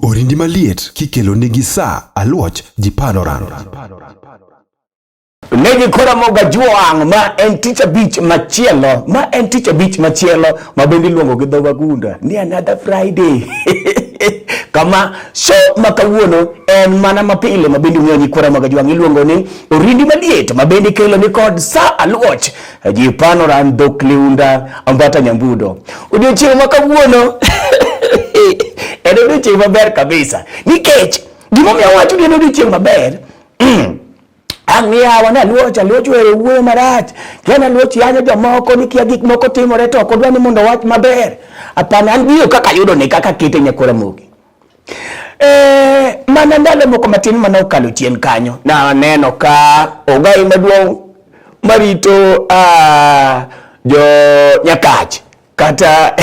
Orindi maliet kikelo nigi saa aluoch ji panoran. Legi kora moga juang' ma en tich abich machielo ma en tich abich machielo ma bende iluongo gi dho wagunda ni another Friday kama so ma kawuono en mana mapile ma bende ung'eyo ni kora moga juang' iluongo ni orindi maliet ma bende ikelo ni kod sa aluoch Jipano ran dhok liunda ambata nyambudo. Odiochieng' ma kawuono en odiochieng' maber kabisa nikech gimomiyo awacho ni en odiochieng' maber mm. ang' niyawa ne aluoch aluoch were wuoyo marach kia ne aluoch yanyo jomoko ni kia gik moko timore to ok odwa ni mondo wach maber apana an biro kaka ayudo ni kaka kete nyakora mogi Eh, mana ndalo moko matin mana okalo chien kanyo naneno ka ogai maduong' marito uh, jo nyakach kata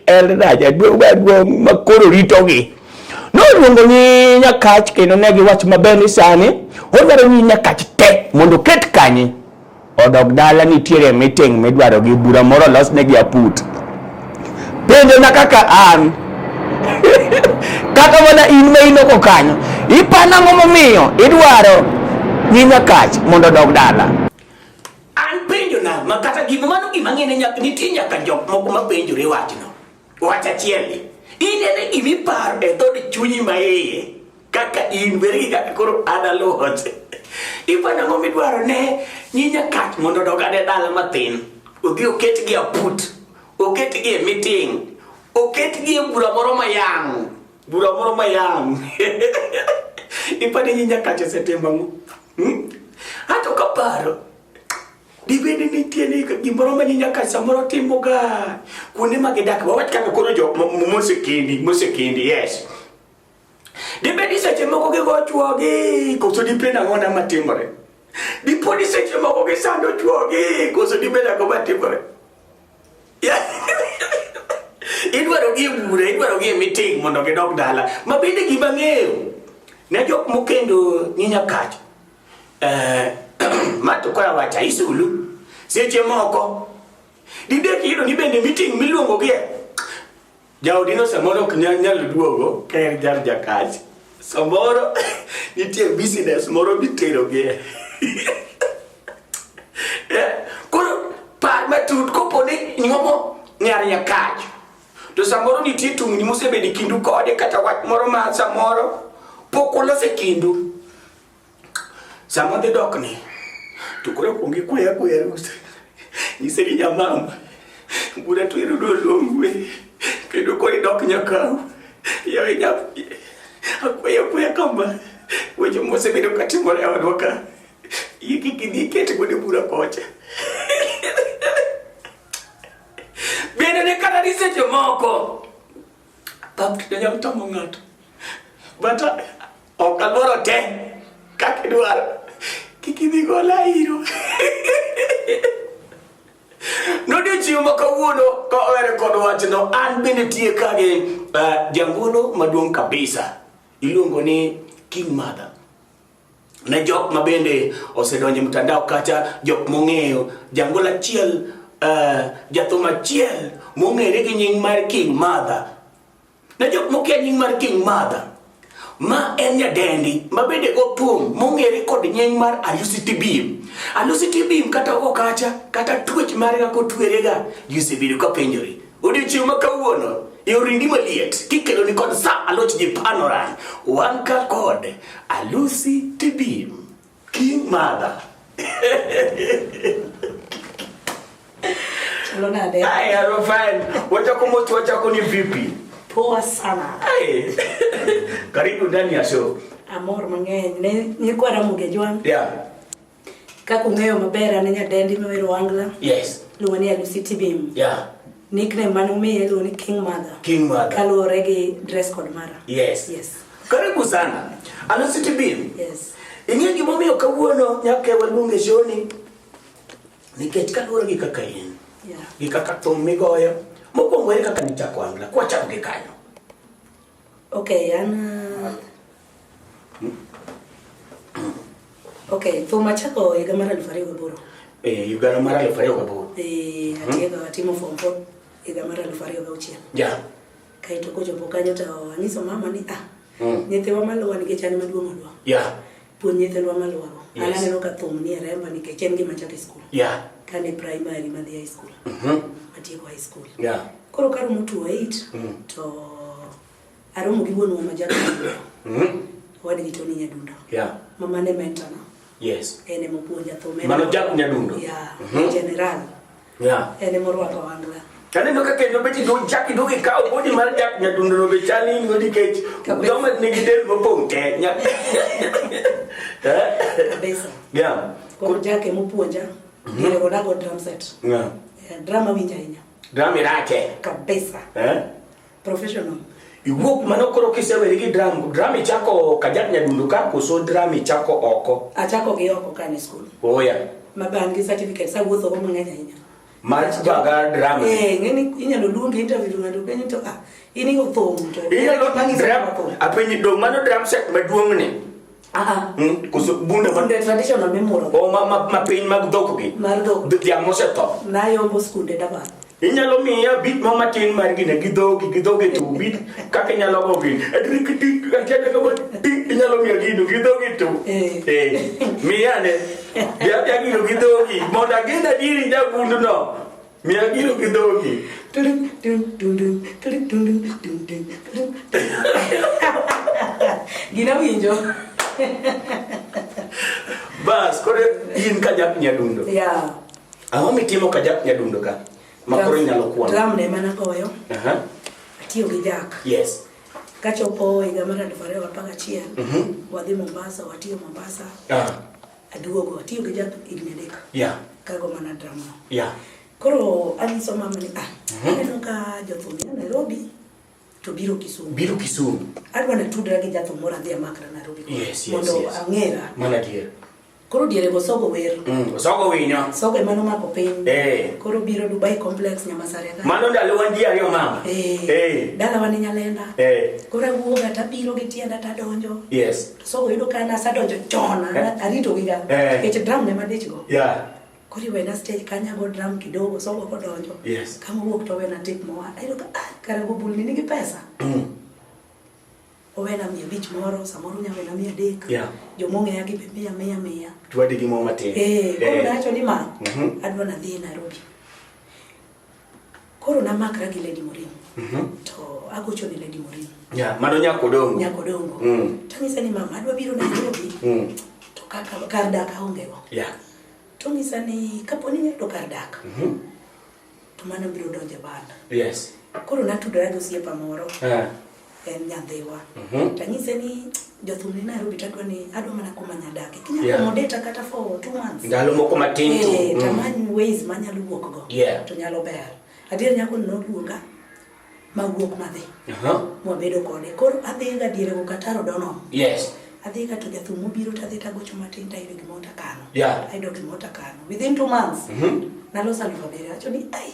eldaja duong' makoro ritogi noluongo ni nyakach kendo ne giwacho maber ni sani odwaro ni nyakach te mondo oket kanye Odok dala nitiere meeting midwaro gi bura moro los ne gi aput. Penjo na kaka an. kaka mana in ma in oko kanyo. Ipana ngo momiyo idwaro nyinya kach mondo odok dala. An penjo na ma kata gima mano gima ngene nyak nitie nyaka jok moko ma penjore wachno. Wach achiel ni. Inene gimiparo e dhod chunyi ma iye. kaka in bergi kaka koro adaluoche ipanyo ang'o midwaro ne nyinya kat mondo odog ade dala matin odhi oketgi aput oketgi e meeting oketgi e bura moro mayang bura moro mayang ipani nyinya kat osetimo ang'o hmm? ato kaparo dibende nitie ni gimoro ma nyinya kat samoro timoga kuonde ma gidak wawach kaka koro jo mosekendi mosekendi yes Dibedi seche moko gigo chwogi koso dibed ang'ona matimore? Dipodi seche moko gisando chwogi koso dibed ang'o matimore? Idwaro gi bura, idwaro gi meeting mondo gidog dala. Ma bende gima ng'eyo ne jok mokendo ni nyakach. Eh, ma to kora wacha isulu. Seche moko dibed kiyudo ni bende meeting miluongo gie Jaodino samoro ok nyal nyalo duogo ka en jar jakach. Samoro nitie business moro miterogie. Eh, Koro par matut kopo ni nyuomo nyar jakach. To samoro nitie tungni mosebedo e kindu kode kata wach moro ma samoro pok uloso e kindu. Sama dhi dok ni, to koro kuong ikwaya kwaya rusa. Nyise ni nyamama, bura to irudo longwe, kendo koro idok nyakawu. Yawe nyathi, akwaya kwaya kama, weche mosebedo katimore e odwa ka, yie kik idhi iket godo e bura kocha. Bende ne kata ni seche moko Pap to nyalo tamo ng'ato. But uh, ok aluoro te kaka idwaro. Kik idhi gola iro. Nodiochieng' ma kawuono ka owere kod wachno, an bende tie ka gi uh, jangolo maduong' kabisa iluongo ni King Mother. ne jok ma bende osedonje mtandao kata jok mong'eyo jangol achiel uh, eh, jathum achiel mong'ere gi nying mar King Mother ne jok mokia nying mar King Mother ma en nyadendi ma bende othum mong'ere kod nying mar Alusiti Bim Alusiti Bim kata okacha kata twech mare kako twerega ji osebedo ka penjore Odiochieng' ma kawuono yorindi maliet kikelo ni kod sa aloch gi panoran wan ka kod alusi tibim king madha Ay, Arofan, wacha kumotu wacha kuni vipi? Poa sana. Ay. Karibu ndani ya show. Amor mang'eny. Nilikuwa Ramogi Jwang'. Yeah. Kaka ung'eyo maber an nyadendi ma wero Angla. Yes. Luongo ni Alusi Tibim. Yeah. Nickname mane umiye iluongo ni King Mother. King Mother. Kaluwore gi dress code mara. Yes. Yes. Karibu sana. Alusi Tibim. Yes. Ing'e gima omiyo kawuono nyaka waluonge shoni nikech kaluwore gi kaka in yeah. gi kaka thum migoyo mokwongo ere kaka nichako angla kwachako gi kanyo Okay, an Okay, thum achako higa mar aluf ariyo gaboro. Eh, higa mar aluf ariyo gaboro. Eh, hmm? atieko atimo form four higa mar aluf ariyo gauchiel. Ja. Kaito kochopo kanyo to anyiso mama ni ah, hmm. nyithiwa maluwa nikech an maduong' olwa. Ya. Puonj nyithindwa malworo. Yes. An aneno ka thum ni e remba nikech en gima chako e skul. Yeah. Kane primary madhi high school. Mhm. Matieko high school. Yeah. Koro karomo tuo 8 Mm. to aromo gi wuonwa ma jadolo. Mhm. Wadgi Tony Nyadundo. Yeah. Mama ne mentana. Yes. En ema opuonja thum. En Mano ema- Jack Nyadundo? Yeah. Mhm. General. Yeah. En ema orwako wangla. Kaneno ka kendo beti do jaki do ki kawo bodi mar jak nyadundo no be chali ngo nikech joma nigi del mopong' te nya. Kabisa. Yeah. Koro jake mopuonja. Mhm. Ile odago drum set. Yeah. Eh, drum awinja ahinya. Drum irake. Kabisa. Eh? Professional. Iwuok mano koro kiseweri gi drum, drum ichako kajak nyadundo ka koso drum ichako oko. Achako gi oko kane school. Oya. Mabangi certificate sa wuotho go mang'eny ahinya. Mar baga drum. Eh, ngeni inyalo luongi interview ng'ato penjo to ah, in igo thum to. Inyalo drum. Apenyi dong mano drum set maduong' ni. Hmm? Koso bunde ma bunde traditional memorial. O oh, ma ma ma piny mag dhok gi. Mar dhok. Dhiang' mosetho. Na yombo skunde da ba. Inyalo miya bit mo matin mar gine gi dhogi gi dhogi to bit kaka inyalo go gin. Adri kiti atenda ka bot inyalo miya gino gi dhogi to. Eh. eh. Miya ne. Ya ya gino gi dhogi. Mondo agenda diri da bundu no. Miya gino gi dhogi. Gina winjo. Bas, kore in ka jak nyadundo. Ya. Ang'o mitimo ka jak nyadundo ka? Ma koro inyalo kwano. Drum ne mana goyo. Aha. Atiyo gi jak. Yes. Kachopo higa mar 2011, mhm. wadhi Mombasa, watiyo Mombasa. Ah. Aduogo, atiyo gi jab higni adek. Yeah. Kago mana drama. Yeah. Koro anyiso mama ni ah, mhm. aneno ka jothum ya Nairobi to biro Kisumu. Biro Kisumu. Adwa na tudra gi jathum moro adhi amakra Nairobi. Yes, yes, mondo yes. ang'era. Mana dier. Koro diere go sogo wer. Mm, sogo winyo. Sogo e mano mako piny. Eh. Koro biro Dubai complex nyama sare ka. Mano ndalo wan ji ariyo mama. Eh. Eh. Dala wan nyalenda. Eh. Koro awuoga tabiro gi tienda tadonjo. Yes. So yudo ka nasa donjo chon, eh. arito gi ga. Eh. Nikech drum ne madich go. Yeah. Koro iwena stage kanya go drum kidogo, so wako donjo. Yes. Kama wuok to wena tip moa. Ayudo ka ah, kare go bulni nigi pesa. Mm. Owena mia bich moro, samoro nya wena mia dek. Yeah. Jomong'eya gi be mia mia mia. Tuwadi gi mo matin. Eh, koro eh. nacho ni ma, mm -hmm. adwa nadhi Nairobi. Koro namakra gi Lady Morin. Mm -hmm. To agocho ne Lady Morin. Yeah, mano nyako dongo. Nyako dongo. Mm. Tanyisa ni mama adwa biro Nairobi. Mm. To kaka kar dak aonge go. Yeah. Tonyisa ni kapo ni nyako kar dak. Mm -hmm. To mano biro donje banda. Yes. Koro natudora gi osiepa moro. Yeah. en nyadhiwa mhm. tanyise ni jothum ni Nairobi tadwa ni adwa mana kuma nyadake kinya yeah. accommodate kata for two months ndalo moko matin tu eh, mm. tamany ways manyalo wuok go yeah. to nyalo ber adier nyako ni noluonga mawuok madhi uh -huh. mwabedo kode koro adhi ga diere go kataro dono yes adhi ka to jathum mobiro tadhi tagocho matin tayudo gimoro takano yeah. ayudo gimoro takano within two months mm -hmm. naloso alufu abiriyo acho ni ai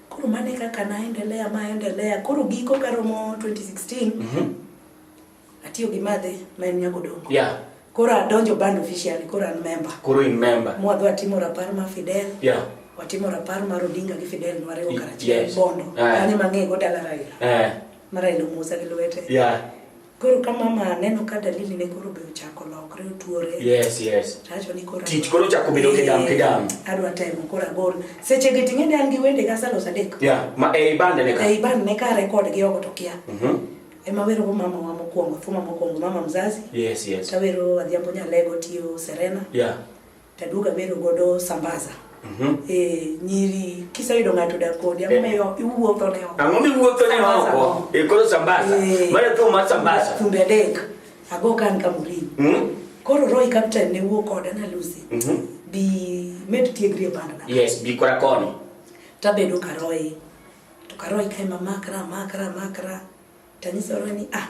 Koro mano e kaka naendelea maendelea. Koro giko karomo 2016 mm -hmm. atiyo gi madhe ma en nyagodongo yeah. Koro adonjo band officially, koro an member. Koro in member. Mwadhi watimo rapar ma Fidel. Yeah. Watimo rapar mar Odinga gi Fidel nwariwo karachiel yes. Bondo. Eh. Kanyo mang'eyo go dala Raila. Eh. Ma Raila Musa gi lwete. Yeah. Koro ka mama neno ka dalili ne koro be ochako lokre otuore. Yes, yes. Tacho ni koro. Tich koro chako bedo kidam kidam. Adwa temo koro agol. Seche ge ting'e dan gi wende ga salo sadek. Yeah, ma e ibande ne ka. E ibande ne ka record gi ogo to kia. Mhm. Mm Ema wero go mama wa mokwongo, thuma mokwongo mama mzazi. Yes, yes. Tawero adhiambo nyalego tiyo Serena. Yeah. Taduga bedo godo sambaza. Mm -hmm. Eh, nyiri kiseyudo ng'ato da kodi ang'o miyo eh. iwuotho ne oko. Ang'o miwuotho ne oko? E koro sambaza. Eh. Mara tu ma sambaza. Tumbe adek. Ago kan kamuri. Mm -hmm. Koro Roy Captain ne wuok koda na Lucy. Mm -hmm. Bi med tiegri e banda. Yes, bi kora koni. Tabedo karoy. To karoy kai mamakra makra makra. makra. Tanyisa ore ni ah,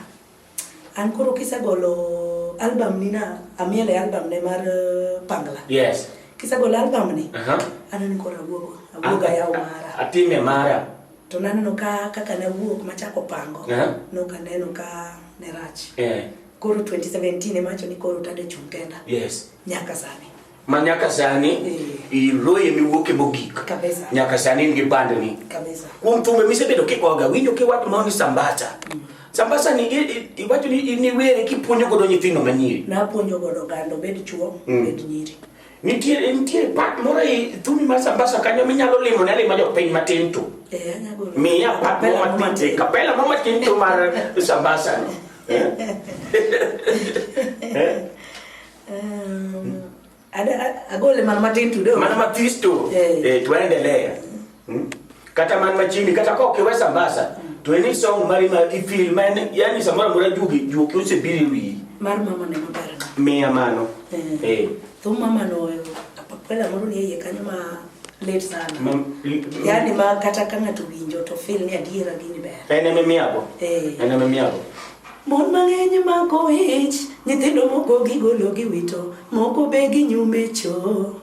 an koro kisegolo album ni na amiel e album ne mar uh, Pangla. Yes. Kisegolo album ni, Aha. aneno koro awuogo, awuogo ayawo mara. Atime mara. To naneno ka kaka nawuok machako pango, Aha. noka neno ka ne rach. Eh. Koro 2017 emacho ni koro tade chung' kenda Yes. nyaka sani. ma nyaka sani iloye miwuoke mogik nyaka sani in gi bandni kuom thumbe misebedo kigoga winjo kiwacho ma ni sambasa mm. sambasa ni iwacho ni in iwere kipuonjo godo nyithindo manyiri napuonjo godo gando bed chuo mm. bed nyiri nitiere nitiere part moro e thumi mar sambasa kanyo minyalo limo ne lima jopiny matin to eh, miya part moro matin kapela moro matin to mar sambasa no eh? Um, agole mana matin tudo. Mana matis tu. Eh, eh tuendelee. Hmm? Kata man machini kata ko kiwe sambasa. Hmm. To any song mari ma i feel man yani samora mura jugi juki use biri wi. Mar mama ne mabara. Me amano. Eh. eh. Tu mama no yo. Apapela moro ni yeye kanyo ma late sana. Mam, yani ma kata kanga tuwinjo to feel ni adiera gini ber. Ene me miago. Eh. Ene me miago. Mon mang'eny mako ich, nyithindo moko gigolo giwito, moko be ginyume cho.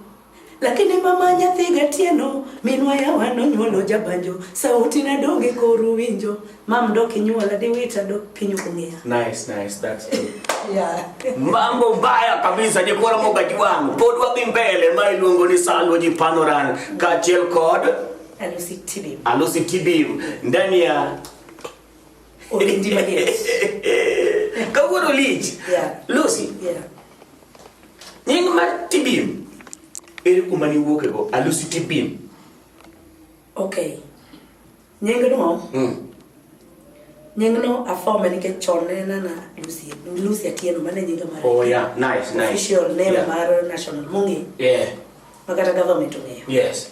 Lakini mama nyathi gatieno, minwa yawa nonyuolo jabanjo, sauti na donge koru winjo, mam do kinyuola diwita do pinyu kung'eya. Nice, nice, that's good. yeah. Mambo mbaya kabisa jikora moga jiwangu, pod wadhi mbele ma iluongo ni Salwa ji Panoran kaachiel kod Alusi Tibim. Alusi Tibim ndani ya Olindi Madies. Kawuono lich. Yeah. Lucy. Yeah. Nying mar Tibim. Ere kuma ni wuoke go? Alusi Tibim. Okay. Nying no. Mm. Nying no afome ni ke chone na na Lucy. Lucy atieno mane nyinga mar. Oh yeah, nice, nice. Official name yeah. mar national mungi. Yeah. Makata government ong'eyo. Yes.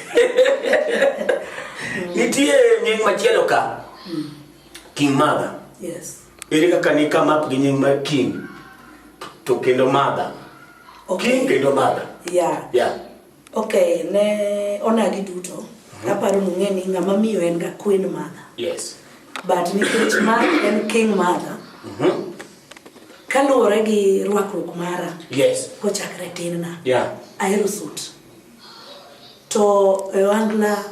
Nitie nying machielo ka. Hmm. King Mother. Yes. Ere kaka ni come up gi nying mar King to kendo Mother. Okay. King kendo Mother. Yeah. Yeah. Okay, ne ona gi duto. Mm -hmm. Aparo nung'e ni ng'ama miyo en ga Queen Mother. Yes. But nikech ma en King Mother. Mm -hmm. Kaluwore gi rwakruok mara. Yes. Kochakre tinna. Yeah. Ahero suit. To e ohangla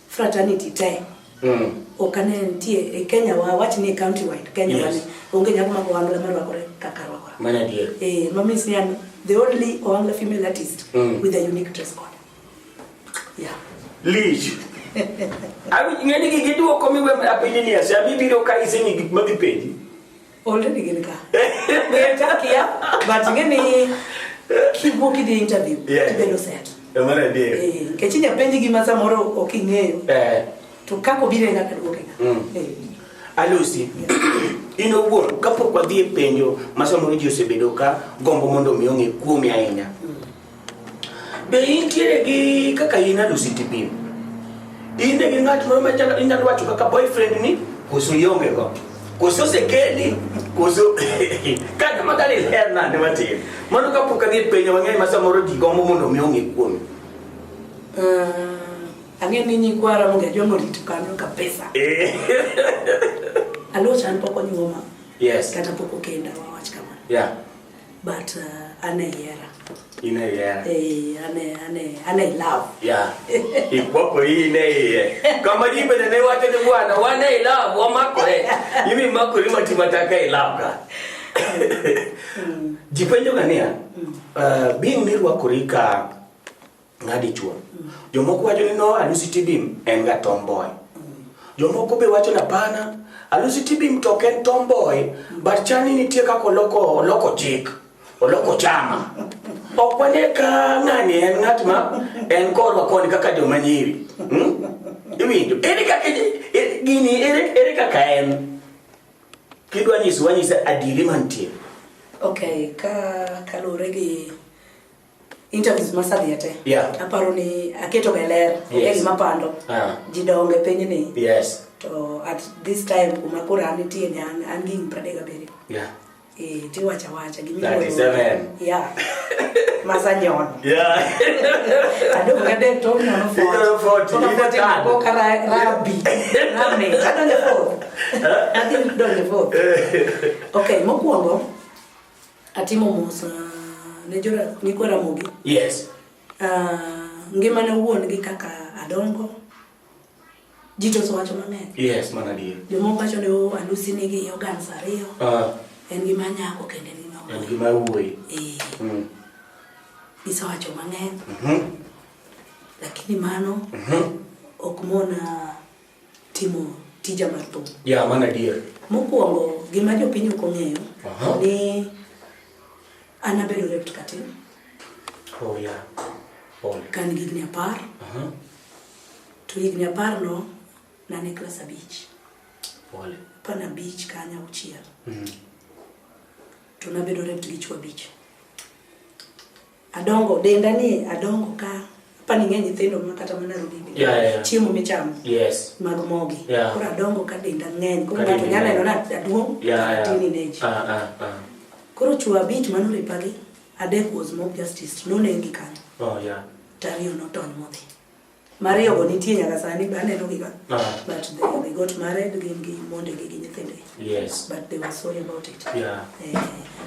fraternity te Mm. ok ane nitie e Kenya wa wach ni county wide Kenya Yes. wani onge nyako mag ohangla marwakore kaka arwakora. Mana adier. Eh, ma means ni an the only ohangla female artist Mm. with a unique dress code. Yeah. Lich. Abi ng'eni gi giduoko miwe apili ni ase abibiro ka isemi gik ma gipenji. already gin ka ngechakia but ngeni kiwuok idhi interview Yeah. tibelo set Emara adier. Eh, nikech inya penji gima samoro ok ing'eyo Eh. to kaka obiro e kaka duoke Mm. Alusi, in owuon kapok wadhi e penjo ma samoro ji osebedo ka gombo mondo omi ong'e kuomi ahinya. Be intiere gi kaka in ado city pin? In gi ng'at moro ma inyalo wacho kaka boyfriend ni koso ionge go? Koso osekeli? Koso kata ma dali ler nade matin? Mano ka pok adhi e penjo mang'eny ma samoro ji gombo mondo mi ong'e kuome. Uh, ang'e ni nyikwara onge joma orito kanyo ka pesa. Eh. Aluo chan pok onyuoma. Yes. Kata pok okenda wawach kamano. Yeah. but uh, ana yera ina yera eh ana ana ana love yeah ikwako hii ne ye kama jibe ne wate ne bwana wana love wa makore yimi makore mati mataka love ka mm. jipenjo kania mm. uh, being mirwa kurika nga dichuo jomoko wacho ni no alusi tibim en ga tomboy jomoko be wacho na pana alusi tibim to ken tomboy but chani nitie kaka oloko oloko chik oloko chama ok wane ka ng'ani en ng'at ma en korwa koni kaka joma nyiri hmm? iwinjo ere kaka e, gini ere ere kaka en kidwa nyisi wanyise adiri mantie okay ka kaluwore gi interviews masadhie te Yeah. aparo ni aketo ga ler onge Yes. gima pando Ah. ji donge piny ni Yes. to at this time kuma koro an nitie ni an an gi higni pradek gabiriyo Yeah. Eh, tiwacha wacha gimi 37. yeah masa nyono Yeah. adong gadek to nyono Nyono 40, even third. ko kara rabi rame adonje fourth adhi donje fourth okay mokwongo Atimo mos ah, ne jora nyikwa Ramogi. Yes. Ah, ngima ne wuon gi kaka adongo. Ji to wacho mang'eny. Yes, mana adier. Jomoko wacho ni oh, alusi nigi organs ariyo. Ah. En gima nyako kendo en gima wuoyi. En gima wuoyi. Eh. Mm. Gisewacho mang'eny. Mhm. Mm Lakini mano mhm. Mm ok mona timo tija mar thum. Ya, mano adier. Mokwongo gima jopiny ok ong'eyo Aha. ni an abedo raped katin Oh, ya. Pole. ka an gi higni apar Aha. to higni apar no nane klas abich Pole. apar na abich ka anya auchiel Mhm. to nabedo raped gi chwo abich Adongo denda ni adongo ka pani ng'e nyithindo ma kata mana robi bi yeah, yeah. chiemo michamo yes. mag mogi yeah. koro adongo ka denda ng'eny koro ng'ato nyalo neno na aduong' yeah, yeah. tini neji uh, ah, uh, ah, uh. Ah. koro chuo abich mano ripagi adek was mob justice nonegi kanyo oh, yeah. tariyo notony modhi Mariyogo nitie nyaka sani be anenogi ga. Ah. But they, they got married gin gi mondegi gi nyithindegi. Yes. But they were sorry about it. Yeah. Eh,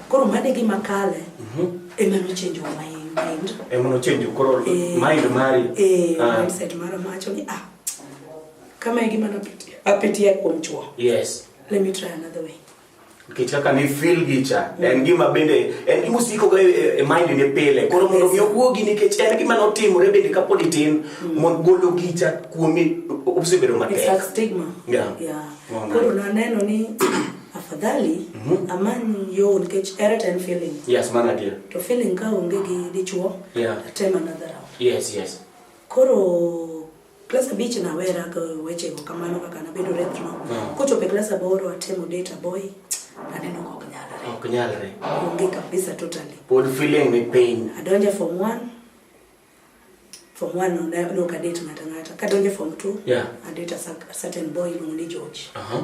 koro mane gima kale Mhm. ema nochenjo my mind. Ema nochenjo koro Eh, mind mari. Eh, Ah. mindset mara macho ni ah. Kama e gima napitia apitia kuom chwo. Yes. Let me try another way. nikech kaka ni feel gi cha en gima bende en gima osiko ga e mind ne pile koro mondo mi owuogi nikech en gima notimore bende kapod itin mm. mon golo gi cha kuomi osebedo matek it's like stigma yeah yeah koro na neno ni afadhali mm-hmm. amany yo nikech ere ten feeling yes mana dia to feeling ka onge gi dichuo yeah tem another round yes yes koro klas abich nawera go wechego kamano kaka nabedo rethno hmm. kochopo e klas aboro atemo date boy aneno ok nyalre ok nyalre onge kabisa totally pod feeling ni pain adonja form 1 form 1 ne no ka date ngata ngata kadonja form 2 yeah. adate a certain boy iluongo ni George uh -huh.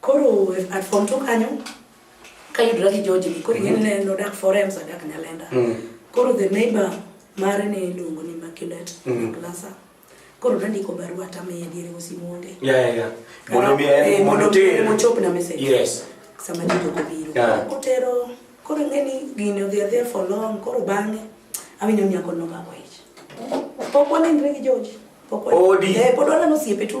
Koro at form two kanyo kayudra gi George ni koro ing'eni ne nodak forems adak Nyalenda. Mm. Koro the neighbor mare ne iluongo ni Immaculate Mm. Glasa. Koro nandiko barua tamiye diere osimonge. Ya ya ya. Mondo mi Eh, en mondo mondo ter. mochop na message. Yes. sama jito kobiro Yeah. kotero koro ng'eni gini odhi adhiya for long koro bang'e awinjo ni nyako nomako ich pok wanenre gi George pok wa- Odi. Eh, pod waneno osiepe tu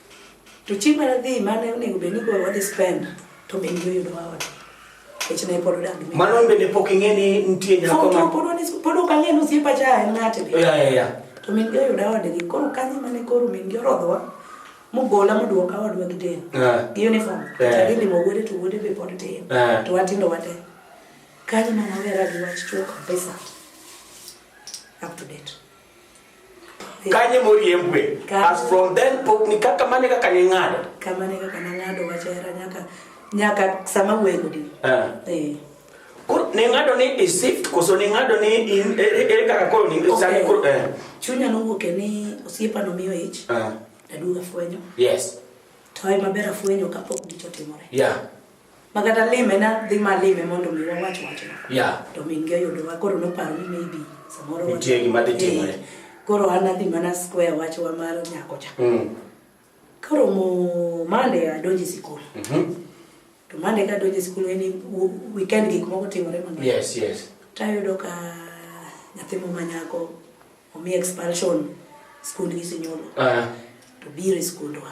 To chieng' mane dhi mane onego bed ni koro wadhi spend to be ndio yudo wa ot. Kech ne pod odak gi. Mano bende pok ing'e ni nitie nyako ma. Pod wani pod ok ang'e ni osiepa cha en ng'ate. Ya ya ya. To min ndio yudo ode gi koro kanyo mane koro min ndio rodhowa. Mugola muduoka wadwa gi den. Gi uniform. Tadhi limo wuode to wuode be pod tin. To watindo wate. Kanyo mane awera gi wach chuo kabisa. Up to date. kanye moriembwe as from then pok ni kaka mane kaka ne ng'ado kama ne kaka ne ng'ado wacho era nyaka nyaka sama wego di eh. eh koro ne ng'ado ni i shift koso ne ng'ado ni in e, e, e kaka koro ni sani koro eh chunya no wuok ni osiepa no miyo ich eh aduga fwenyo yes to ai maber afwenyo kapok gichotimore yeah ma kata lime na dhi ma lime mondo mi wawach wachno yeah. to min gi oyudowa koro noparo ni maybe samoro nitie gima dhi timore koro an adhi mana square wachwa mar nyako cha mm. koro mo mande adonje sikul mm -hmm. to mande ka adonje sikul en weekend gik moko timore mang'eny yes, yes. tayudo ka nyathi mo manyako omi expulsion skundgi sinyuolo uh ah. -huh. to biro e skundwa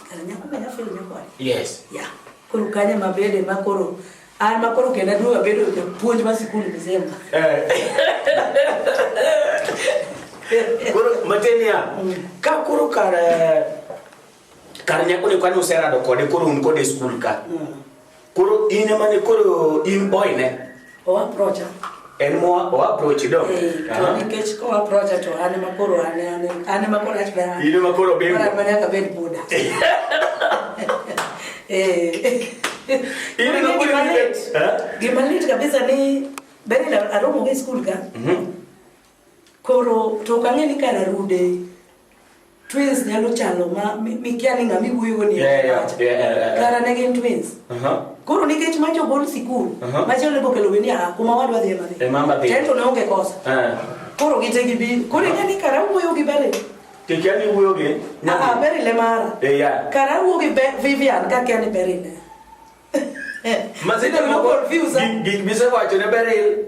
Yes. Yeah. Koro kanya mabede ma koro an ma koro kenda duoga bedo japuonj ma sikul mzemba. Eh. Koro matenia mm. ka koro kar eh, kar nyako ni kwani userado kode koro un kode e skul ka. Mm. Koro in ema ne koro in boy ne? Owa procha. En mo owa prochi do. Eh, to nikech ko owa procha to an ema koro an an ema koro ach bana. In ema koro bembo. Koro manya ka ben buda. Eh. In ema koro ni bet. Gima lit kabisa ni beri na aromo gi school ka. Mhm. Koro to kang'e ni kana rude. Twins nyalo chalo ma mikia ni ng'ama iwuoyo ni kara ne gin twins. Koro nikech ma jogol sikul machielo ibo kelo ni ah kuma wadwa dhi ema dhi. Tento ne onge kosa. Koro gite gi bi. Koro ing'e ni kara wuoyo gi bale. Tikia ni wuoyo gi. Ah, ah beri le mara. Eh ya. Kara wuoyo gi Vivian ka kia ni beri le. Mazito ni mo confuse. Gik bisewacho ne beri.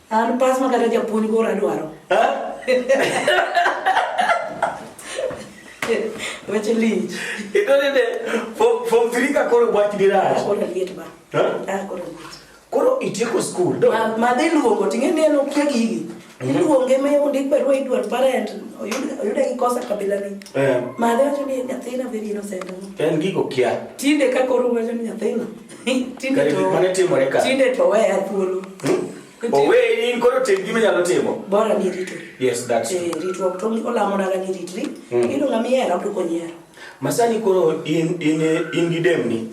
An pas ma kata japuonj koro adwaro. Weche lich. Ito nende form form 3 ka koro bwach dirach. Koro liet ba. Ha? Ah, koro liet. Koro itieko school. Do. Ma ma dhi luongo ting'e ni en okia gigi. Iluonge me ondik barua idwar parent oyud oyud gi kosa kabila ni. Eh, Ma dhi wacho ni nyathina very innocent. en gigo kia. Tinde ka koro wacho ni nyathina. Tinde Kare gik to- mane timore ka. Tinde to weya thuolo. Owe in koro tim gima inyalo timo. Bora ni ritori. Yes, that's true. Eh, ritruok to olamonaga ni ritri. Mm. Iyudo ng'ama ihero to konyiero. Masani koro in in in gi demni.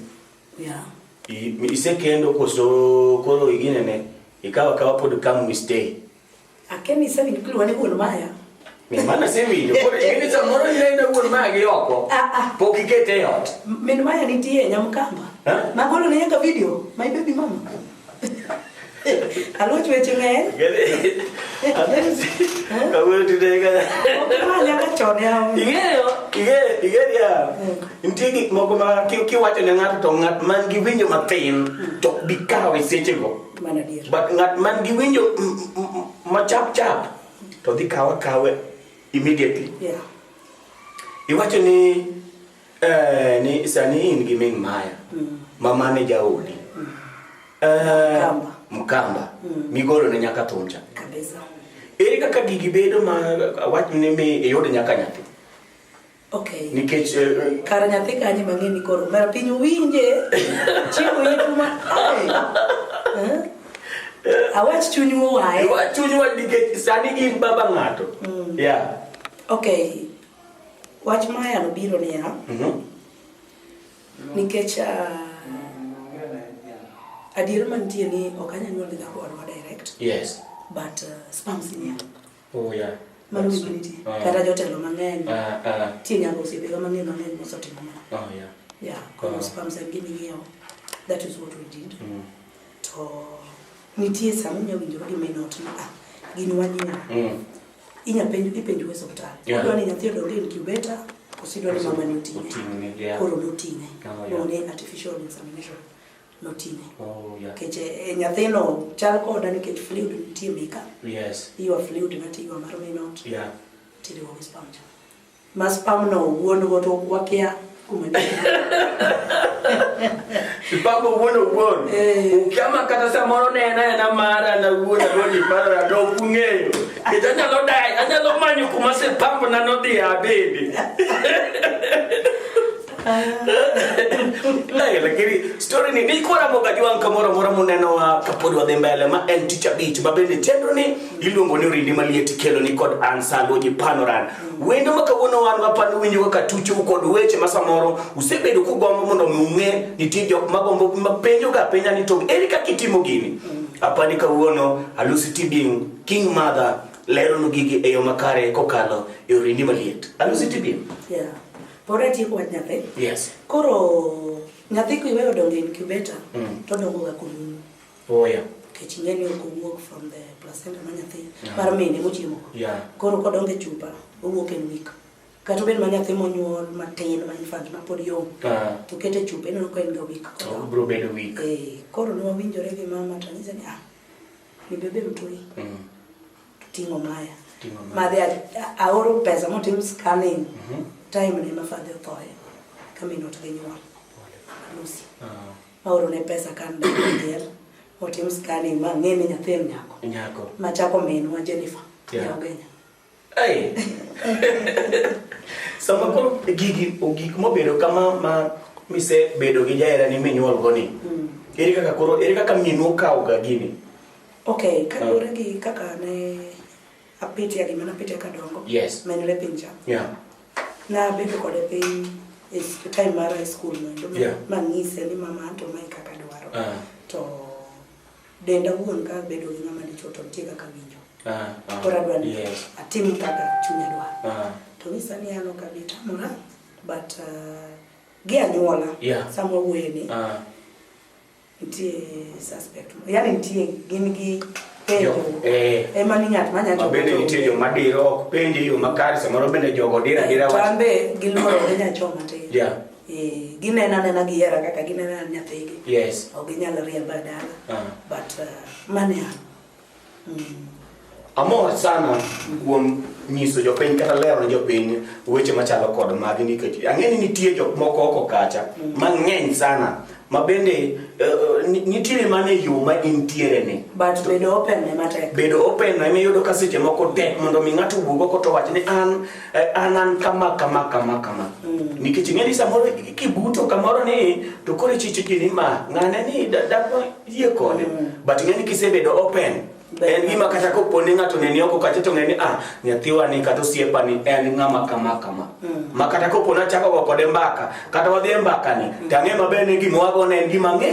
Yeah. I- Isekendo koso koro iginene ikawa kawa pod come we stay. Akemi sasa ni kulu wane wuon maya. Min mama si winjo. Koro in sa moro ni na wuon maya gi oko. Ah ah. Pok ikete e ot. Min maya nitie nyamkamba. Ma golo ne yaka video. My baby mama. Alo chweche ng'eny. Kawuono tude ka. Mali aka chon yawo. Ing'eyo, ing'eyo, ing'eyo ya. Nitie gik moko ma kiwacho ne ng'ato to ng'at man gi winjo matin to bikawe sechego. Mano adier. but ng'at man gi winjo m- m- m- machap chap to dhi kawe kawe immediately Yeah. iwacho ni eh, ni sani in gi min maya ma mane jaodi Eh, Mkamba. mkamba migolo ne nyaka thuncha Kabisa. ere kaka gigi bedo ma wach ni mi iyud nyaka nyathi Okay. Nikech eh, eh, kar nyathi kanye mang'e ni koro mera piny winje chiwo yetu ma ai. Eh? Awach chuny wae. Awach chuny wae nikech sani in baba ng'ato. Mm. Yeah. Okay. Wach maya no biro niya. Mm -hmm. Nikech uh, adier mantie ni ok anyanyuol ga kod direct. Yes. But uh, spams niya. Oya. Mano gima nitie. Ah. Kata jotelo mang'eny. Ah, ah. Tie nyaka osiepewa mang'eny mang'eny mosetimo mano. Oh, yeah. Yeah, koro Ah. sperms en gima ing'iewo. That is what we did. Mm. To nitie sama inya winjo ka gima inot ni ah, gin wanyia. Mm. Inya penjo ipenjo e suptal. Yeah. Odwa ni nyathi odonge incubator, kosidwa ni mama ni oting'e. Oting'e, yeah. Koro noting'e. Oh, yeah. One artificial insemination. notine oh, yeah. kech e, eh, nyathino chal koda nikech fluid nitie mika yes. iwa fluid ng'ato iwa mar minot yeah. tiriwo gi spam cha ma spam no wuon go to wakia kuma spam wuon wuon eh. ukiama kata samoro ne ena ena mara na wuon go ni paro ya do kungeyo kech anyalo dai anyalo manyo kuma spam na nodhi abede Hey, lakini story ni niko na moga jwa kamoro moro muneno wa kapod wadhi mbele ma en tich abich ma bende chenro ni iluongo ni rindi maliet kelo ni kod ansalo ji panoran wendo ma kawuono wan ma pano winjo kaka tucho kod weche ma samoro usebedo kugombo mondo mi ung'e nitie jok ma gombo ma penjo ga penja ni to eri kaka itimo gini apani kawuono alusi tibing king mother lero nu gigi e yo makare kokalo e orindi maliet alusi tibing yeah Pod atieko wach nyathi. Yes. Koro nyathi kiweyo dongo e incubator mm. to dongo ga kuom nyuol. Oh yeah. Kech ing'e ni ok owuok from the placenta ma nyathi yeah. mar mine mochiemo. Yeah. Koro kodongo e chupa owuok e week. Kata obed ma nyathi monyuol matin ma infant ma pod yom. Ah. To kete chupa ineno ka en ga week. Oh, bro bedo week. Eh, koro ne wawinjore gi mama to anyise ni ah, ni bebe mtoi. Mm. Ting'o maya. Ting'o maya. Madhe a- aoro pesa motim scanning. Mhm. Time ne ma father othoye. Kamin ot gi nyuol. Lucy. Ah, Maoro ne pesa kan del. Otim scanning ma ng'e ni nyathi en nyako. Nyako. Ma chako minwa Jennifer. Yeah. Yeah. Ogenya. Hey. Sama koro gigi gik mobedo kama ma mise bedo gi jaherani minyuolgo ni. Ere kaka koro ere kaka minu kawoga gini? Okay, kaluwore gi kaka ne apitia gima napitia kadongo yes. menre pinja yeah. nabedo kode piny e time mar high school mondo yeah. mang'ise ni mama anto mae kaka dwaro uh ah. -huh. to denda wuon ka bedo gi ng'ama dichuo to nitie kaka winjo uh ah, -huh. Ah. koro adwa ni yes. atim kaka chunya dwaro uh -huh. to nyisa ni an ok abi tamora but uh, gi anyuola yeah. sama wuoye ni uh -huh. Nitie suspect. Yaani nitie gin gi penjo. Eh. Ema ni ng'at manya jogo. Bende nitie yo madiro ok penjo yo makare samoro bende jogo dira dira wach. Tambe giloro ne nya choma te. Yeah. Eh, ginena nena gi hera kaka ginena nyathigi. Yes. Ok ginyal riemba dala. Uh ah. -huh. But uh, mane Amor sana kuom nyiso jopiny kata lero ne jopiny weche machalo kod magi nikech ang'e ni nitie jok moko oko kacha mang'eny sana ma bende uh, nitiere mana e yo ma intiere ni but bedo open ne matek bedo open ne iyudo ka seche moko tek mondo mi ng'ato wuog oko to wach ni an Eh, an an kama kama kama kama mm. nikech ing'eni samoro kibuto kamoro ni to koro ichichiki ni ma ng'ane ni dhako yie kode mm. but ing'eni kisebedo open en gima kata kopo ni ng'ato neni oko kacha to ng'eni ah nyathiwa ni kata osiepa ni en ng'ama kama kama mm. ma kata kopo nachako go kode mbaka kata wadhi e mbaka ni to ang'e maber ni gima wago ne en gima ng'e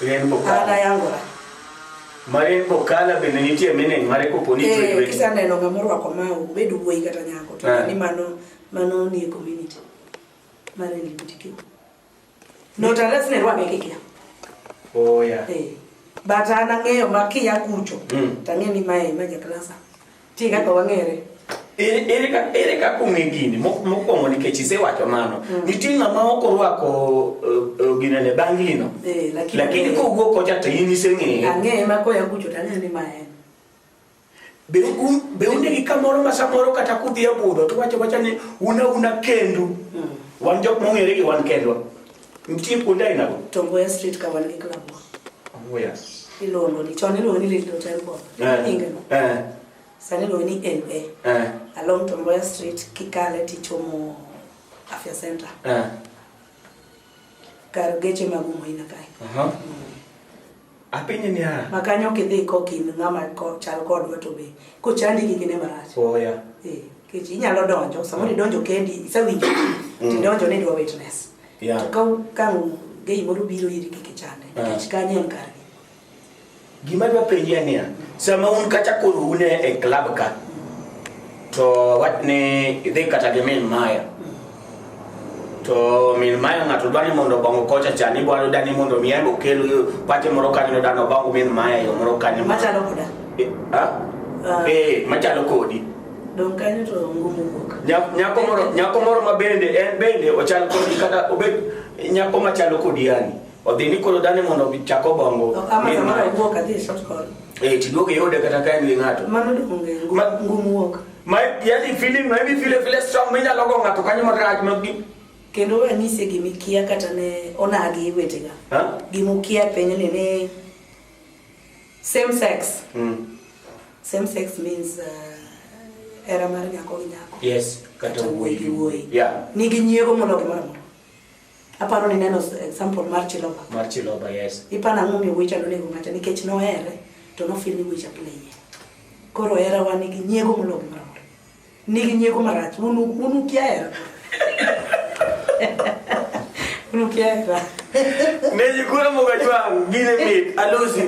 Len bokalo. An ayangora. Mare bokala bende nitie meaning mare kopo ni eh, tweet week. Kisa neno ng'ama orwako ma obed wuoyi kata nyako to ah. ni mano mano ni e community. Mare ni butiki. No ta let's ne rwame kiki. Oh yeah. Eh. But ana ng'eyo ma kiya kucho. Mm. Tang'e ni mae ma ja klasa. Ti kaka wang'ere. Ere ere ka ere ka kong'e gini mo- mokwongo nikech isewacho mano. Nitie ng'ama ok orwako eh, eh, gine ne bangino. Eh, lakini- Lakini kowuok kocha to in iseng'eye. Ang'eye ma koya kucho to ang'eyo ni ma en. Be un be unde gi kamoro ma samoro kata kudhi e budho to wacho wacha ni una una kendu. Wan jok mong'ere gi wan kendwa. Nitie kuonde aina go. Tongoya Street ka wan gi club. Tongoya. Iluongo ni chon iluongo ni Little Temple. Eh. Inge. Eh. Sani iluongo ni LA. Eh. Along Tongoya Street kikale tichomo Afya Center. Eh. Kar geche mag Umoina kae. Aha. Uh -huh. mm. Apenje niya. Ma kanyo ok idhi kok in ng'ama chal kodwa to be kochandi gi kine marach. Oya. Eh, kech inyalo donjo, samoro mm. idonjo kendi, isewinjo, mm. tidonjo ni idwa witness. Yeah. To ka ka gei moro biro iri kik ichande, ah. nikech kanyo en kargi. Gima dwa penjia niya, sama un kata koro une e club ka, to watne idhi kata gi min maya, to min mayo ng'ato dwa ni mondo obongo kocha cha ni bwalo dani mondo mi aybo kel pate moro kanyo no dano obongo min maya yo moro kanyo machalo koda eh, ha ah. eh machalo kodi dong kanyo to ngumu wuok nyako moro nyako moro ma bende en bende ochal kodi kata obed nyako machalo kodi yani odhi ni koro dani mondo chak obongo min maya eh tiduogo yode kata kaen gi ng'ato mano dong ngumu wuok Ma yani feeling na hivi vile vile strong menya logo ngato kanyo matraj magi. Kendo anyise gimi kia kata ne onagi wetega. Ha? Gimu kia penye ni ne same sex. Mm. Same sex means uh, era mar nyako gi nyako. Yes, kata wuoyi gi wuoyi. Yeah. Nigi nyiego mologi mara moro. Aparo ni neno example mar Chiloba. Mar Chiloba, yes. Ipana ang'o mi wicha nonego ng'ata nikech nohere to nofil ni wicha play. Koro hera wa nigi nyiego moloyo moro amora. Nigi nyiego marach. Unu unu kia hera. Unu kia hera. Neji kura moga jwa gine mit alosi.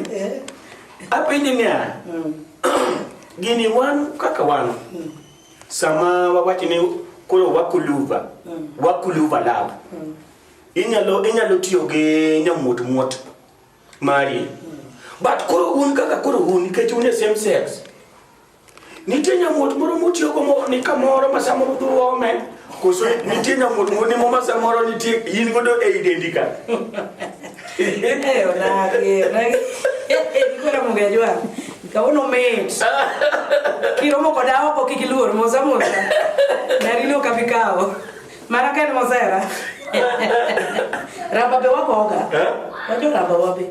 Apinyi niya. Gini wan kaka wan. Mm. Sama wawacho ni koro wakuluva, wakuluva love. Inyalo inyalo tiyo gi nyamuot muot mari. But koro un kaka koro un nikech un e same sex. Nitie nyamuot moro mutiyogo mo- ni kamoro ma samoro udhi uome Koso nitie nyamut moni moma samoro nitie in godo e idendi ka. Eyo nage, nage. Nikora mungejwa. Kauno mate. Kiromo koda oko kiki luor moza moza. Narino kabikao. Mara kan mozera. Ramba be wakoga. Eh? Wajo ramba wabe.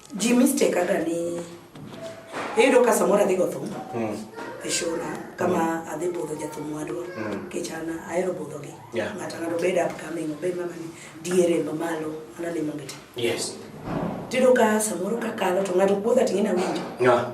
Ji mistake aga ni iyudo ka samoro adhi go thum mm. e shona kama mm. adhi budho jathum wadwa mm. kech an ahero budhogi yeah. ng'ato ng'ato bed upcoming obed mama ni diere mamalo an alimo gi te yes. tiyudo ka samoro kakalo to ng'ato puodha ting'e nawinjo yeah.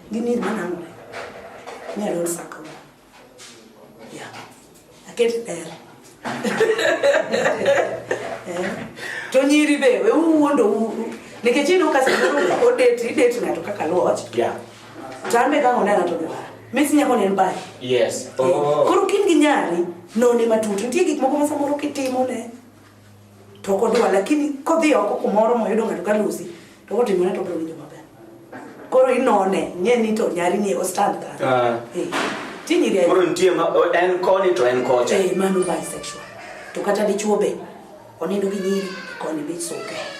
Gini manango. Ni alon sako. Ya. Aket er. Eh. To nyiri be we uwondo uru. Nikech ino kasi uru odeti ideti ng'ato kaka luoch. Yeah. Tambe ka onena to dwara. Mesi nyako ne mbaye. Yes. Oh. Koro kin gi nyari none matut. Nitie gik moko ma samoro kitimo ne. To kodwa lakini kodhi oko kumoro moyudo ng'ato ka lusi to kotimone to bro winjo maber. Koro inone nye ni to nyari ni o stand ka. Ah. Eh. Tinyi ri. Koro nitie ma en koni to en kocha. Eh, mano bisexual. To kata dichuo be onindo gi nyiri koni be soke. Okay.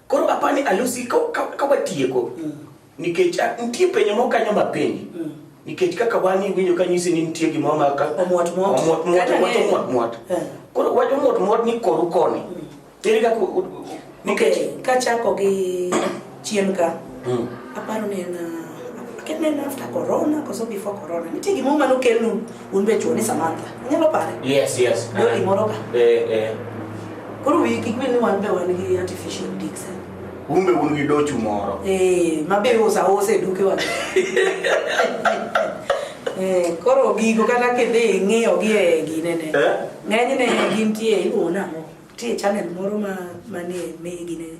Koro apa ni alusi ka ka watieko mm. nikech ah, nitie penyo moko kanyo ma penyi mm. nikech kaka wan iwinjo ka nyisi ni nitie gimoro ma ka omwot mwot omwot mwot omwot omwot mwot eh. koro wacho omwot mwot ni koru koni mm. ere kaka nikech kachako gi chien ka mm. aparo ni en ah, akia ni en after corona koso before corona nitie gimoro mane okelnu Un be chuo ni Samantha. Inyalo pare? Yes, yes. Doli uh-huh. moro ka. Eh, eh. Koro wi kik bed ni wan be wan gi artificial dicks. Eh? Un be un gi dochu moro. Eh, ma be usa ose duke wan. Eh, koro gigo kata kidhi ing'iyo gi e ginene. Eh? Ng'enyne gintie iluwo nang'o? Tie channel moro ma manie me ginene.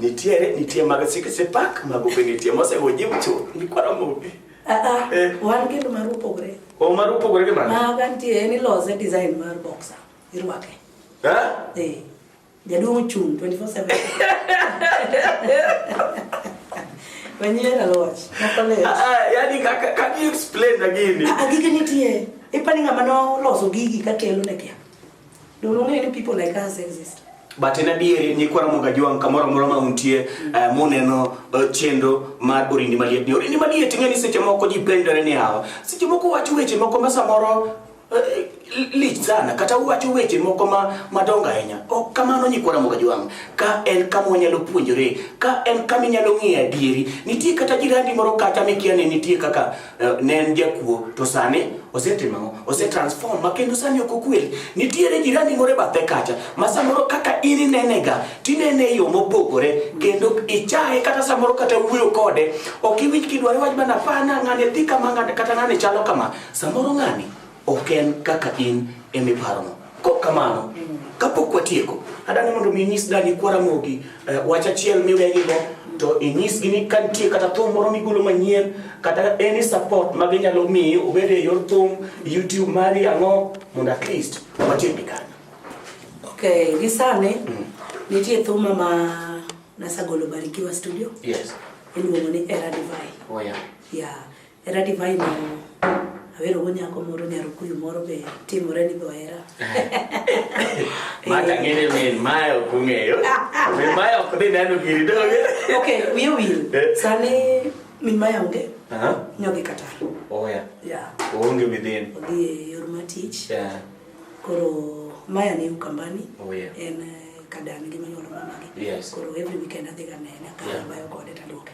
Nitiere, nitie mag sikisi pak, mago be nitie mosego jiw chuth, gikwaro mugi. Ah, ah, eh. wan kendo mar upogore. O mar upogore gi mano? Maga nitie en ilose design mar boxer, irwake. Eh? Eh. Jaduong' chung' 24/7. Manyien aloch. Makolech. Ah, ah, yani kaka can you explain again? Ah, gigi nitie. Ipani ng'ama noloso gigi ka kelo ne kia. Don't know any people like us exist. But in adieri ni kwara moga juang kamoro moro ma untie uh, muneno uh, chenro mar orindi maliet ni orindi maliet ing'e ni seche moko ji penjore ni hawa seche moko wacho weche moko ma samoro uh, lich sana kata uwacho weche moko ma madongo ahinya ok kamano nyikwara moga jwang ka en kama wanyalo puonjore ka en kama inyalo ng'eyo adieri nitie kata jirandi moro kacha mikia ni nitie kaka Eh, ne en jakuo to sani osetimo ang'o osetransform ma kendo sani ok okwel nitiere jirani moro e bathe kacha ma samoro kaka in inenega tinene e yo mopogore kendo ichaye kata samoro kata wuoyo kode ok iwinj kidware wach mana pana ng'ani dhi kama ng'ani kata ng'ani chalo kama samoro ng'ani Ok en kaka in ema iparono. Kok kamano, kapok watieko, adani mondo mi inyis dani kwa Ramogi eh, wach achiel miwegigo to inyisgi ni ka nitie kata thum moro migolo manyien kata any support ma ginyalo miyi obed e yor thum YouTube mari ang'o mondo at least watiek gi kanyo. Okay, gi sani mm. nitie thuma ma nasagolo Barikiwa Studio. Yes. Iluongo ni Era Divine. Oh yeah. Yeah. Hera divai ma awero go nyako moro nyarukuyu moro be timore ni go hera. Mata ngene min mae ok ung'eyo. Min mae ok dhi neno giri doge. Okay, wiye wil. Eh. Sani min mae onge Aha. nyogi Qatar. Oya. Yeah. Oonge within. Odhi e yor ma tich. Yeah. Koro maya ni Ukambani. Oh, yeah. En eh, kadani gi manyuolo mamagi. Yes. Koro every weekend adhi ga nene Yeah. akabayo kode taduoke.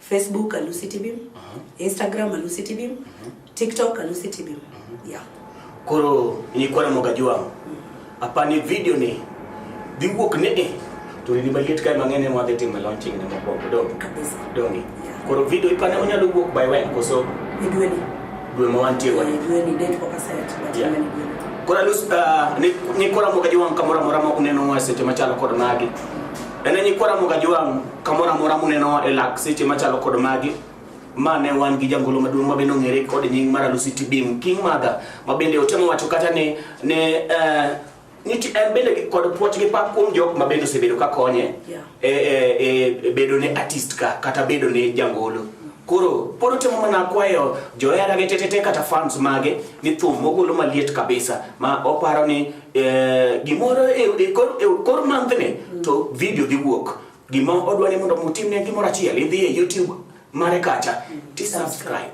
Facebook Alusi Tibim, Instagram Alusi Tibim, TikTok Alusi Tibim. Yeah. Koro nilikuwa na mwaga jwangu hapa ni video ni dhi wuok ni e to ni maliet kae mang'eny ema wadhi timo launching ne mokwongo donge Kabisa. donge Yeah. koro video ipane onyalo wuok by when koso Ni dwe ni. dwe ma wantie Ni wani dwe ni date pok aset. But Yeah. ni dwe ni. koro alus uh, ni, ni kora mwaga jwangu kamoro amora ma uneno mwa seche machalo kod magi E ne nyikwa Ramogi Ajwang' kamoro amora munenowa e lak seche machalo kod magi ma ne wan gi jangolo maduong' mabende ong'ere kod nying mar Alusi Tibim King Mother mabende otemo wacho kata ni ne uh, niti en bende kod puoch gi pak kuom jok mabende osebedo ka konye yeah. e, e, e, bedo ne artist ka kata bedo ne jangolo mm. Koro pod otemo mana kwayo johera gi tetete kata fans mage ni thum mogolo maliet kabisa ma oparo ni Eh, gimoro e, e, e kor manthne to video dhi wuok gima odwa ni mondo mutimne gimoro achiel idhi e youtube mare kacha ti subscribe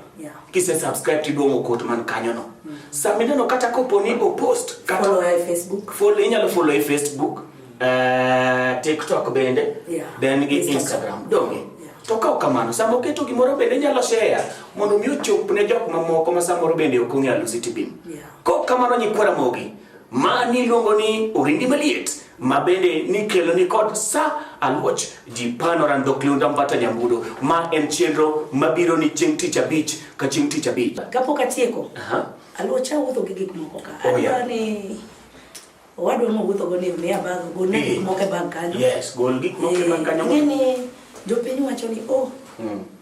kise subscribe tiduong'o kot man kanyono mm. sama ineno kata kopo ni opost inyalo follow e facebook eh, tiktok bende then gi instagram donge to kaw kamano sama oketo gimoro bende inyalo share mondo mi ochop ne jok mamoko ma samoro bende ok ong'e alusi tibim Kok kamano nyikwa Ramogi, ma niluongo ni Orindi Maliet, ma bende nikelo ni kod sa aluoch ji panoran dhok liunda mbata nyambudo ma en chenro mabiro ni chieng' tich abich ka chieng' tich abich. Kapok atieko, aluocha wuotho gi gik moko ka. Oh, yeah. Adwa ni owadwa mowuotho go ni omiya bag, gol ne gik moko e bag kanyo. Yes, gol gik moko e bag kanyo. Ng'e ni jopiny wacho ni oh,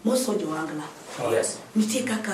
moso jo angla. Yes. Nitie kaka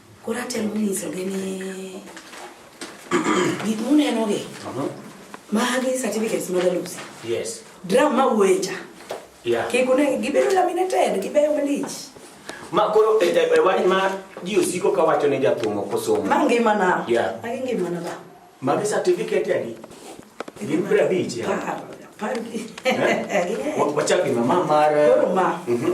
Koro atemo nyisogi ni gik munenogi uh-huh. magi certificates mag alusi dram ma wuecha kik unegi gibedo laminated gibeyo malich ma koro e, e, e wach ma ji osiko ka wacho ne jathum ok osomo ma ngimana magi ngimana ba magi certificate adi gin piero abich eh? wachak gima ma mar eh? mhm.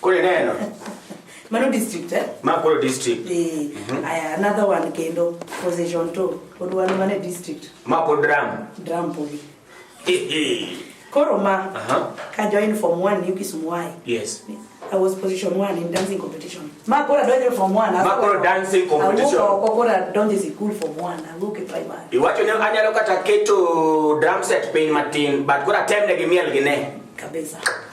Kule neno. Mano district eh? Ma kule district. Eh. Mhm. Aya another one kendo position to. Odwa no mane district. Ma kule drum. Drum poli. Koro ma. Aha. Ka join form 1 yuki sumuai. Yes. I was position 1 in dancing competition. Ma kora donje form 1. Ma kora dancing competition. Awuok oko kora donje sikul form 1. Awuok e primary. Iwacho ne anyalo kata keto drum set piny matin but kora tem ne gi miel gi ne. Kabisa.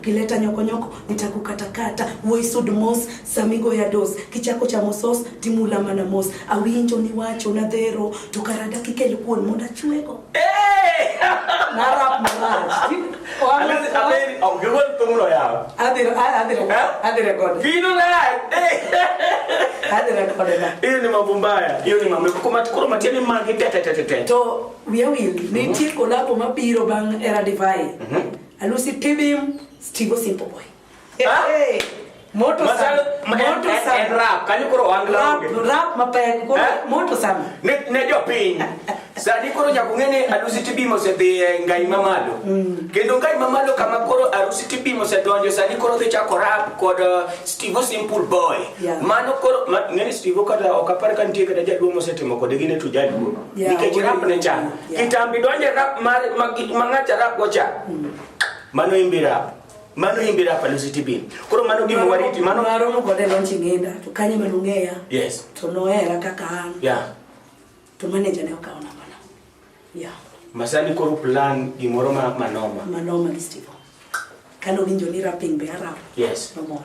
kileta nyokonyoko nitakukatakata woisud mos samigo ya dos kichako chamo sos timula mana mos awinjo ni wacho na dhero to karada kikel kuon mondo achwego hiyo ni mambo mbaya hiyo ni mambo koro matiani magi tetetetete to wiya wil nitie kolabo mabiro bang' era divai mm -hmm. Alusi pibim stigo simple boy. Hey, ah! hey. Moto sana. Moto sana. And rap. Kani kuro wangla. Rap, rap mapaya kuro. Eh? Moto sana. Ne, ne jo piny. Sani kuro nyakung'e ni alusi tibimo osedhi e ngai mamalo. Mm. Kendo ngai mamalo kama koro arusi tibimo osedonjo sani koro dhi chako rap kod uh, Steve Simple Boy. Yeah. Mano koro ma, ng'e ni Steve kata ok apar ka nitie kata jaduong' mosetimo kode gine to jaduong'. Yeah, Nikech rap ne chano. Kitambi donje rap mar mangacha rap gocha. Hmm. Mano imbi rap. Mano imbi rap alusi tibi. Koro mano gima wariti mano. Maro mo kode lonchi ngenda to kanye mano ngeya. Yes. To no era kaka an. Yeah. To manager ne okaona mana. Yeah. Masani koro plan gimoro ma manoma. Manoma gi Steve. Kano winjo ni rapping be arap. Yes. No more.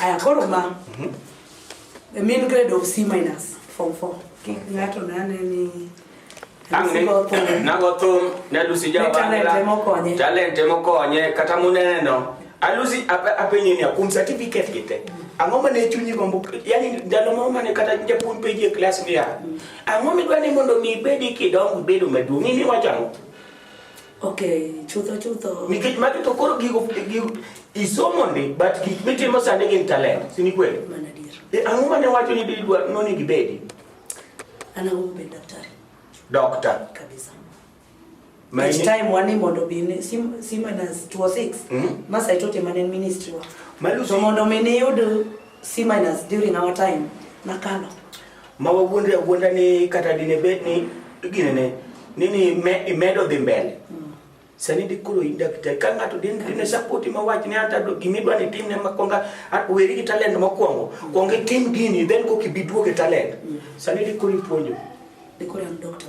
Aya koro ma. Mhm. The mean grade of C minus form 4. Ngato nane ni nagothum nalusi jawanla talente mokonye kata muneno alusi apenye ni akum certificate gite ang'o mane chunyi gombo yani ndalo moro mane kata japuonj penji e klas niya ang'o midwa ni mondo mi ibedi kidongo ibedo maduong' in iwacho ang'o Okay, chutho chutho. Nikech magi to koro gigo gigo isomo ndi but gik mitimo sani gin talent, si ni kweli? Mana dier. E ang'o mane wacho ni didwa noni gibedi? Ana humu be daktari. Doctor. Kabisa. Ma Each ini- time wani mondo bi ni sim sim na 26. Mhm. Mas I taught him an ministry wa. Malusi. So mondo mi ni yud C minus during our time na kano. ma wawuondre awuonda ni kata dine bed ni ginene nini me, imedo dhi mbele mm. sani di koro in daktari ka ng'ato din dine sapoti ma wach ne ata gimi dwa ni tim ne ma konga weri gi talent ma kwongo mm. kwongo itim gini then koki bi duoge talent mm. sani di koro ipuonjo di koro an doctor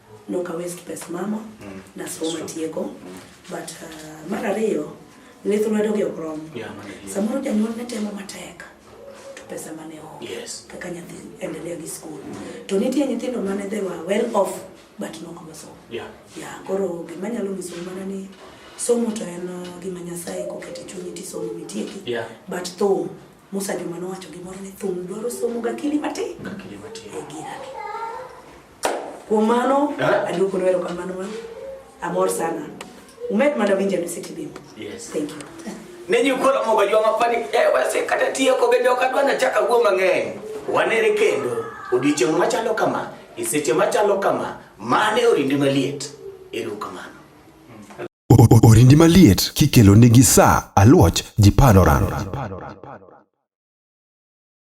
nok awaste pes mama mm. nasomo matieko mm. but uh, mar ariyo lith lwedo gi ok rom samoro janyuol ne temo matek to pesa mane onge yes. kaka nyathi endelea gi skul mm. to nitie nyithindo mane they were well off but nok nosomo yeah. yeah, koro gima nyalo nyiso mana ni somo to en uh, gima nyasaye kokete chunyi tisomo mitieki yeah. but thum musa joma nowacho gimoro ni thum dwaro somo gakili matin gakili matin e girani Kuom mano, Eh? aduoko lwero kamano ma amor sana. Umed mana winja ni City Beam. Yes. Thank you. ne jikolo mogo joma pani eh, wase kata tieko bende ok adwa nachaka wuo mang'eny wanere kendo odiechieng' machalo kama e seche machalo kama mane orindi maliet eru kamano O- o- Orindi maliet kikelo nigi sa aluoch ji panoran.